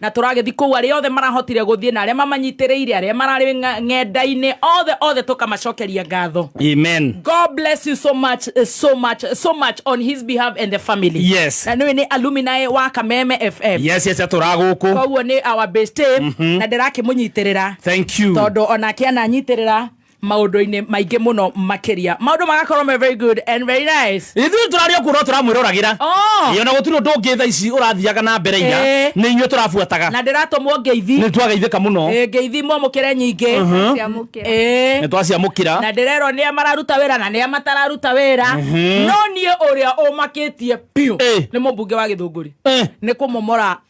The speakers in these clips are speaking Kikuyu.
na tũragĩthiĩ kũu arĩa othe marahotire gũthiĩ na arĩa mamanyitĩrĩire arĩa mararĩ ng'a- ng'enda-inĩ othe othe tũkamacokeria ngatho Amen. God bless you so much, uh, so much, so much on his behalf and the family. Yes. Na nĩwe nĩ alumni wa Kameme FM. Yes, yes, tũragũkũ. Koguo nĩ our bestie na ndĩrakĩmũnyitĩrĩra Thank you. tondũ onake ananyitĩrĩra maundu-ini maingi muno makiria maundu magakorwo me very good and very nice ithuĩ tũrarĩ o kuona tũramwĩroragĩra oh. ona gũtirĩ ũndũ ũngĩ tha ici ũrathiaga na mbere ira eh. nĩ inyuĩ tũrabuataga na ndĩratũmwo ngeithi nĩ twageithĩka mũno eh, ngeithi mwamũkĩre nyingĩ uh-huh. eh. nĩ twaciamũkĩra na ndĩrerwo nĩ a mararuta wĩra na nĩ a matararuta wĩra uh-huh. no niĩ ũrĩa ũmakĩtie biũ nĩ mũmbunge wa gĩthũngũri nĩ kũmomora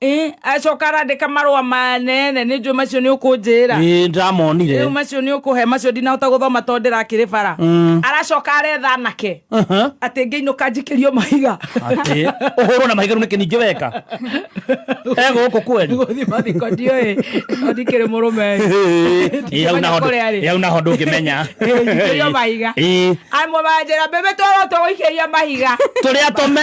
Eh, acoka arandĩka marũa manene nĩ njũĩ macio nĩ ũkũnjĩra ĩĩ ndamonire rĩu macio nĩ ũkũhe macio ndinahota gũthoma tondũ ndĩrakĩrĩ bara Mm. aracoka aretha anake Aha. atĩ ngĩinũka njikĩrio mahiga Atĩ, ũhũrwo na mahiga rĩu nĩkĩ ningĩ weka e gũkũ kweli gũthiĩ mathiko ndiũĩ no ndikĩrĩ mũrũme Ĩĩ, hau naho ndũ- Kũrĩa rĩ? ĩĩ, hau naho ndũngĩmenya njikĩrio mahiga Ĩĩ, amwe manjĩra mbembe twarotwo gũikĩria mahiga tũrĩa tome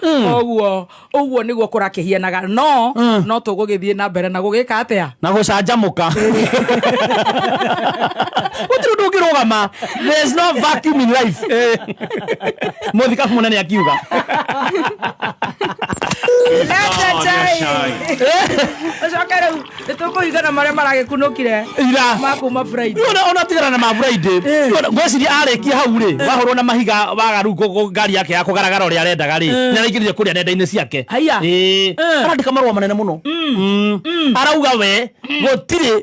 koguo ũguo nĩguo kũrakĩhianaga no no tũgũgĩthiĩ na mbere na gũgĩka atĩa na gå canjamå ka gå tirå ndå å ngä rå gama må thikabu må nene akiuga Leta chai. Ucoke rĩu nä tå kå igana marä a maragä kunå kire ira ma kuma Friday. Rĩu ona ona tigana na maburaidĩ Eh. ngweciria arĩkia hau rĩ wahũrwo na mahiga wagaru kũ- kũ- ngari yake ya kũgaragara ũrĩa arendaga rĩ nĩ araingĩrire kũrĩa nenda-inĩ ciake Haiya. Ĩĩ. Eh. arandĩka marũa manene mũno Mm. arauga we gũtirĩ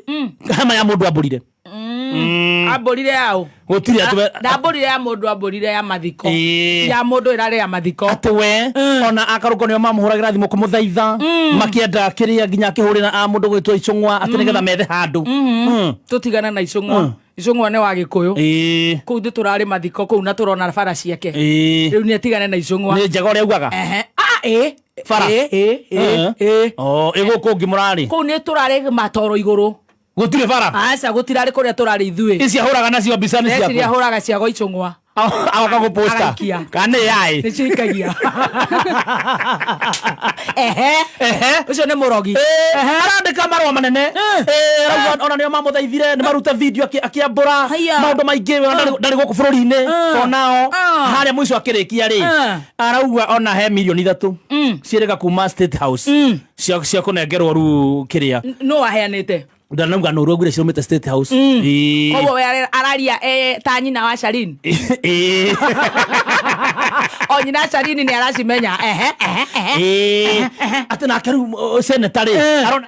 hema ya mũndũ ambũrire Mm. ambũrire yaũ gå tirä atå ndambũrire ya mũndũ ambũrire ya mathiko Ĩĩ. ya mũndũ ĩrarĩ ya mathiko atä we ona akarå ko nä o mamå hå ragä ra thimå kå må thaitha makienda kä rä a nginya akä hå rä ra a må ndå gwä two icång'wa atä nä getha methe handå tũtigana na icũng'wa icũng'wa nĩ wa gĩkũyũ kũu thĩ tũrarĩ mathiko kũu na tũrona bara ciake rĩu nĩ atigane na icũng'wa nä njega å rä augaga Ehe. Ah, ĩ. Bara. Ĩ, ĩ, ĩ, Eh. ĩ. ä gå kå ngä må rarä kũu nĩ tũrarĩ matoro igũrũ Gũtirĩ bara. Aca gũtirarĩ kũrĩa tũrarĩ ithuĩ. Ici ahũraga nacio mbica nĩ ciaku. Ici ahũraga cia gwa icũng'wa. Agoka gũ posta. Kana yaĩ. Nĩ cikagia. Ehe. Ehe. Ucio nĩ mũrogi. Ehe. Arandĩka marũa manene. Eh. Eh, Rauga ona nĩo mamũthaithire nĩ marute video akĩambũra maũndũ maingĩ eh. ndarĩ gũkũ bũrũri-inĩ onao harĩa mũico akĩrĩkia rĩ arauga ona he milioni ithatũ mm. ciĩrĩga kuma State House mm. cia cia kũnengerwo rĩu kĩrĩa N- nũ waheanĩte ndanauga nũru ngwire cirumĩte state house Mm. Ĩĩ. koguo we ara- araria e, ta nyina wa sharini Ĩĩ. o nyina sharini nĩ aracimenya ehe ehe ehe Ĩĩ. atĩ nake rĩu uh, seneta rĩ arona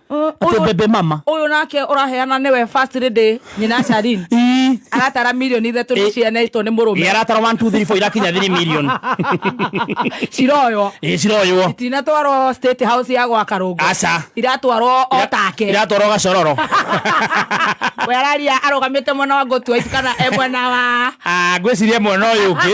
atĩ Ũyũ- bebe mama ũyũ nake ũraheana nĩwe first lady nyina Sharin Ii. aratara milioni ithatũ nĩ cianeitwo nĩ Ĩ, mũrũme aratara 1 2 3 4 irakinya 3 million ciroywo ĩ ciroywo itinatwarwo state house ya gwaka rũngũ Aca. iratwarwo o take iratwarwo gacororo we araria arũgamĩte mwena wa ngũtua ici kana e mwena wa Ah, ngwĩciria mwena ũyũ ũngĩ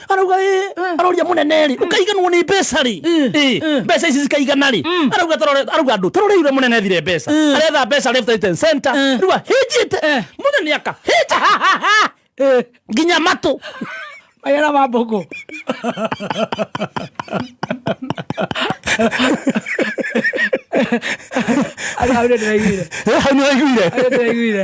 arauga ĩ aroria mũnene rĩ ũkaiganwo nĩ mbeca rĩ Ĩ, mbeca ici cikaigana rĩ arauga tarore- arauga andũ taroreire mũnene thire mbeca aretha mbeca left right and center rĩu ahĩnjĩte mũnene akahĩnja nginya matũ magera ma mbũkũ arĩa ndĩraiguire hau nĩ waiguire arĩa ndĩraiguire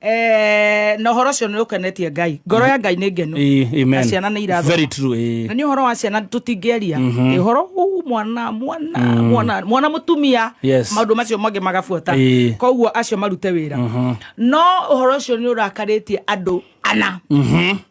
Eh, na horo cio ni ukenetie ngai ngoro ya ngai ni ngenu na ciana ni irathoma na ni horo wa ciana tutingiaria ni horo mwana mwana mm. mwana mwana mutumia maundu macio mangi magabuata koguo acio marute wira no horo cio ni urakaritie andu ana mm-hmm.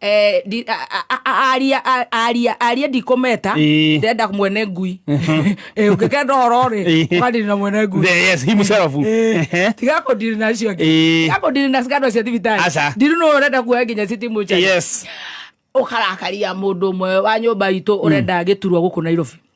Eh, ndi- a- a- a- a- aria a- aria aria ndikometa Ĩĩ. ndenda mwene ngui Eh, ũngĩkenda ũhoro rĩ Ĩĩ. ũkandiri na mwene ngui There, yes, himself. Ehe. tiga kũndiri na acio angĩ Ĩĩ. tiga kũndiri na cikando cia thibitarĩ Aca. ndiru nũ ũrenda kuoya nginya citimu yes ũkarakaria mũndũ ũmwe wa nyũmba itũ ũrenda gĩturwa gũkũ nairobi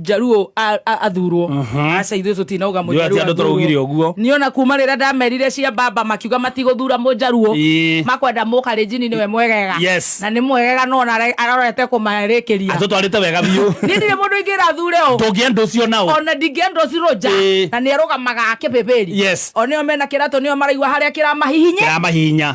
njaruo a- a- athurwo aca ithuĩ tũtinoga Ndio ati andũ tũraugire ũguo. niona kuma rĩrĩa ndamerire cia mbamba makiuga matigũthura mũnjaruo Ĩĩ. makwenda mũka rĩnjini nĩwe mwegega Yes. na nĩ mwegega no na ara- arorete kũmarĩkĩria atũtwarĩte wega biũ niĩ ndirĩ mũndũ ingĩra thure o ndũngĩenda ũcio nao ona ndingĩenda ũcirũ nja Ĩĩ. na nĩ arũgamaga akĩbĩbĩri Yes. o nĩo mena kĩratũ nĩo maraigua harĩa kĩramahihinye kĩramahinya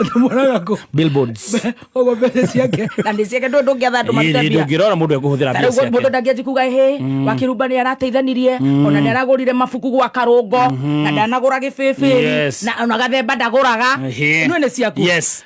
ndamwonaga kũ billboards koguo mbeca ciake na nĩ ciake ndũ ndũngĩatha andũ marute mbia ndũngĩrora mũndũ ekũhũthĩra mbia tarĩu mũndũ ciake ndangĩanji kuga hĩ wakĩrumba nĩ arateithanirie ona nĩ aragũrire mabuku gwa karũngo na ndanagũra gĩbĩbĩri Yes. na ona gathemba ndagũraga Ehe. nue nĩ ciaku Yes.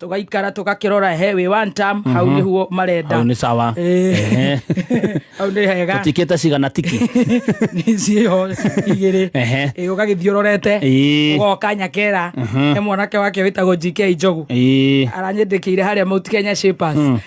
tũgaikara tũgakĩrora he wĩ one term hau mhm. nĩguo marenda hau nĩ sawa eh. hau nĩ hega tũtikĩte cigana tiki ciĩho igĩrĩ eh, ũgagĩthiĩ ũrorete eh. ũgoka nyakera mhm. he mwanake wake wĩtagwo GK Njogu aranyendĩkĩire harĩa Mount Kenya Shapers hmm.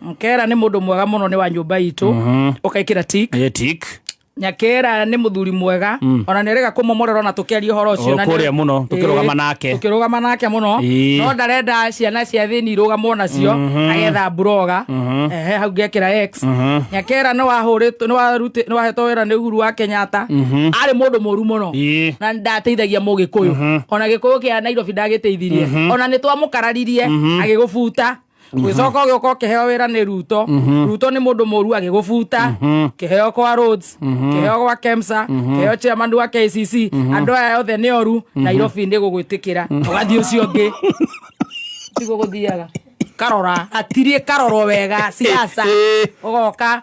Mkera nĩ mũndũ mwega mũno nĩ wa nyũmba itũ ũkaĩkĩra tik Ĩ tik nyakera nĩ mũthuri mwega ona nĩ rega kũmomorera ona tũkĩaria ũhoro ũcio na nĩ- Kũrĩa mũno, tũkĩrũgama Ĩĩ, nake. tũkĩrũgama nake mũno Ĩĩ. no ndarenda ciana cia thĩni irũgamwo nacio agetha mburoga ehe hau ngekĩra x nyakera nĩ wahũrĩtwo- nĩ waruti- nĩ wahetwo wĩra nĩ uhuru wa kenyatta arĩ mũndũ mũru mũno Ĩĩ. na ndateithagia mũgĩkũyũ ona gĩkũyũ kĩa nairobi ndagĩteithirie ona nĩ twamũkararirie agĩgũbuta gwĩcoka ũgĩũka ũkĩheo wĩra nĩ ruto mhm. ruto nĩ mũndũ mũru agĩgũbuta mhm. kĩheo kwa roads mhm. kĩheo gwa kemsa kĩheo chairman wa kcc andũ aya othe nĩ oru nairobi nĩ gũgwĩtĩkĩra ũgathiĩ ũcio ũngĩ tiguo gũthiaga karora atirie karorwo wega siasa ugoka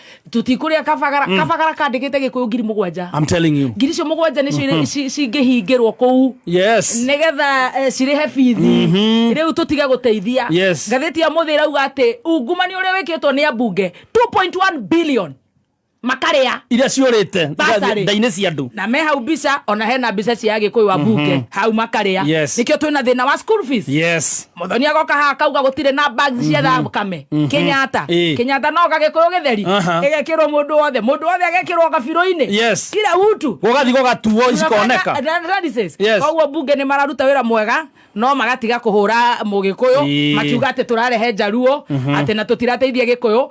tũtikũrĩa kabagara mm. kabagara kandĩkĩte gĩkũyũ ngiri mũgwanja I'm telling you ngiri icio mũgwanja nĩcio mm-hmm. ci- cingĩhingĩrwo kũu yes nĩgetha eh, cirĩhe bithi mm-hmm. rĩu tũtige gũteithia Yes. ngathĩti ya mũthĩ ĩrauga atĩ ungumania ũrĩa wĩkĩtwo nĩ ambunge 2.1 billion makarĩa iria ciũrĩte Basarĩ. ndainĩ cia andũ na me hau mbica ona hena mbica cia gĩkũyũ wa bunge hau makarĩa Yes. nĩkĩo twĩna thĩna wa school fees yes muthoni agoka haha kauga gutire na bags mhm. cia thakame mhm. kenyatta kenyatta no gagikuyu githeri igekirwo mundu wothe mundu wothe agekirwo gabiru-ini kila utu gugathi gugatuo ikoneka koguo bunge ni mararuta wira mwega no magatiga kuhura mugikuyu makiuga ati turarehe njaruo mhm. ati na tutirateithia gikuyu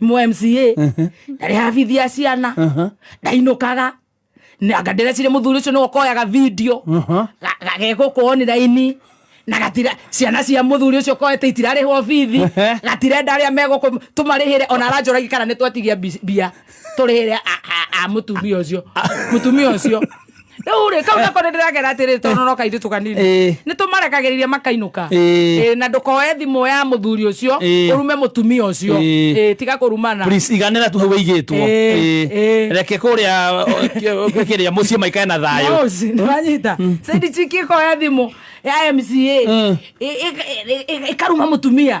mo mca ndarehafithia ciana ndainũkaga anga ndĩrecire mũthuri ũcio nĩwe ũkoyaga video Aha. ga- gagegũkũo nĩ raini na gatira ciana cia mũthuri ũcio koete itirarĩhwo bithi Ehe. gatirenda arĩa megũkũ tũmarĩhĩre ona aranjũragi kana nĩ twetigia mbi- mbia tũrĩhĩre a- a- a mũtumia ũcio mũtumia ũcio rĩu rĩ kau nako nĩ ndĩragera atĩrĩ tondũ no kairĩtu kanini Ĩĩ. nĩ tũmarekagĩrĩria makainũka Ĩĩ. Ĩĩ, na ndũkoe thimũ ya mũthuri ũcio Ĩĩ. ũrume mũtumia ũcio Ĩĩ. Ĩĩ, tiga kũrumana Please, iganĩra tu hau ĩigĩtwo Ĩĩ, Ĩĩ. ĩĩ. reke kũrĩa kĩrĩa mũciĩ maikare na thayũ Mouse, nĩwanyita saidi chiki ĩkoya thimũ ya mca Mm. ĩ- ĩ- ĩ- ĩ- ĩkaruma mũtumia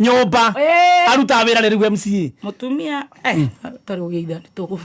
nyumba arutaga wira ri riu MCA mutumia eh tari ugeitha ni tugubu